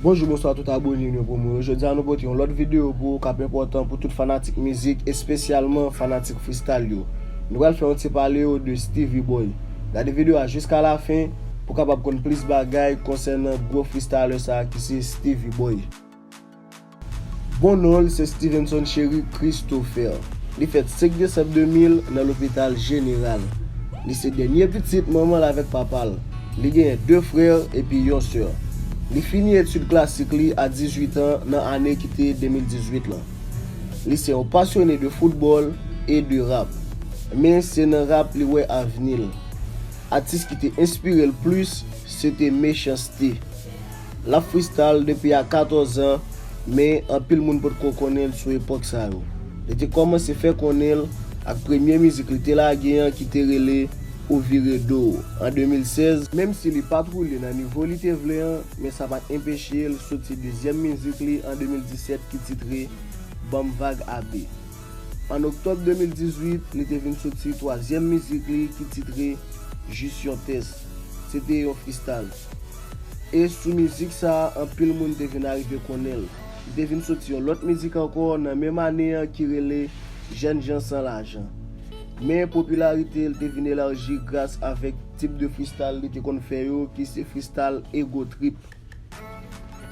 Bonjou bonswa tout abone nou pou mwen yo Jodi a nou pote yon lòt videyo pou ou kap enpòtan pou tout fanatik mizik espesyalman fanatik freestyle yo Nou pral fè yon ti pale yo de Steevy Boy Gade videyo a jiska la fen pou kapab konn plis bagay konsènan gwo freestyler sa ki se Steevy Boy. Bon non l se Stevenson Chéry Christopher. Li fèt 5 desanm 2000 nan lopital jeneral. Li se dènye pitit manman l avèk papa l. Li genyen 2 frè epi yon sè. Li fini etid klasik li a 18 an nan ane ki te 2018 lan. Li se yon pasyone de foutbòl e de rap. Men se nan rap li wè avni l. Atis ki te enspire l plis se te Mechans-T. Lap freestyle depi a 14 an, men anpil moun potko konnen l sou epòk sa yo. Li te kòmanse fè konnen l ak premye mizik li te lage an ki te rele Ou vire do w an 2016, menm si li pat woule nan nivo li te vle an, men sa pat enpeche l soti dezyèm mizik li an 2017 ki titre Banm Vag AB. An oktòb 2018, li te vin soti twazyèm mizik li ki titre Jis yon tès. Se te yon freestyle. E sou mizik sa a anpil moun te vin arive konnen l. Li te vin soti yon lòt mizik ankò nan menm ane an ki rele Jèn jan san lajan. Men popilarite l te vin elaji gras avèk tip de fristal li te konn fè yo ki se fristal Ego Trip.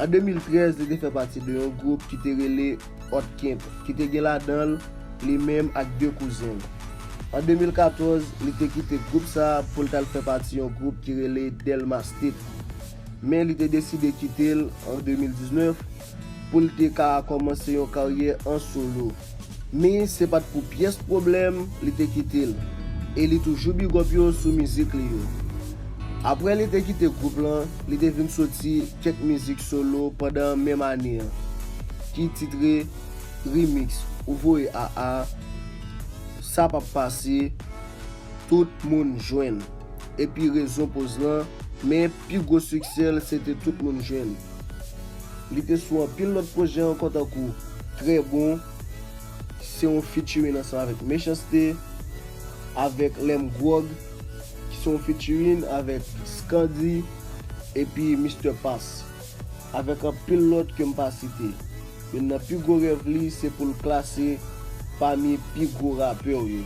An 2013 li te fè pati de yon gwoup ki te rele. Òtkemp, ki te gen ladan l li menm ak de kouzen l. An 2014, li te kite gwoup sa a pou l t al fè pati yon gwoup ki rele Delma State. Men li te deside kite l an 2019 pou l te ka kòmanse yon karyè an solo. Men se pa t pou pyès pwoblèm li te kite l e li toujou bigòp yo sou mizik li yo. Aprè li te kite gwoup lan, li te vin soti kèk mizik solo pandan menm ane an ki titre Remix ou voye a a Sa pap pase tout moun jwenn epi rezon poz lan men pi gwo siksè l se te tout moun jwenn Li te sou anpil lòt pwojè ankò tankou Trè bon se yon featuring ansanm avèk Mechans-T avèk Lè m gwòg. ki se yon featuring avèk Scandy epi Mister Pass, avèk anpil lòt ke m pa site. Youn nan pi gwo rèv li se pou l klase pami pi gwo rapè w yo.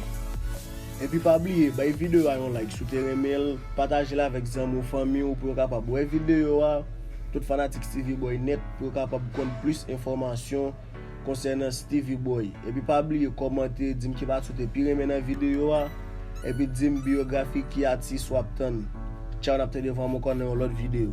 Epi pa bliye bay videyo a yon like si w te renmen l, pataje l avèk zanmi w, fanmi w pou yo kapab wè videyo a, tout fanatik Steevy Boy Net pou yo kapab konn plis enfòmasyon. konsènan Steevy Boy epi pa bliye kòmante dim ki pati ou te pi renmen nan video a epi dim biyografi ki atis wap tann tchaw nap tande vwa m ankò nan yon lòt video.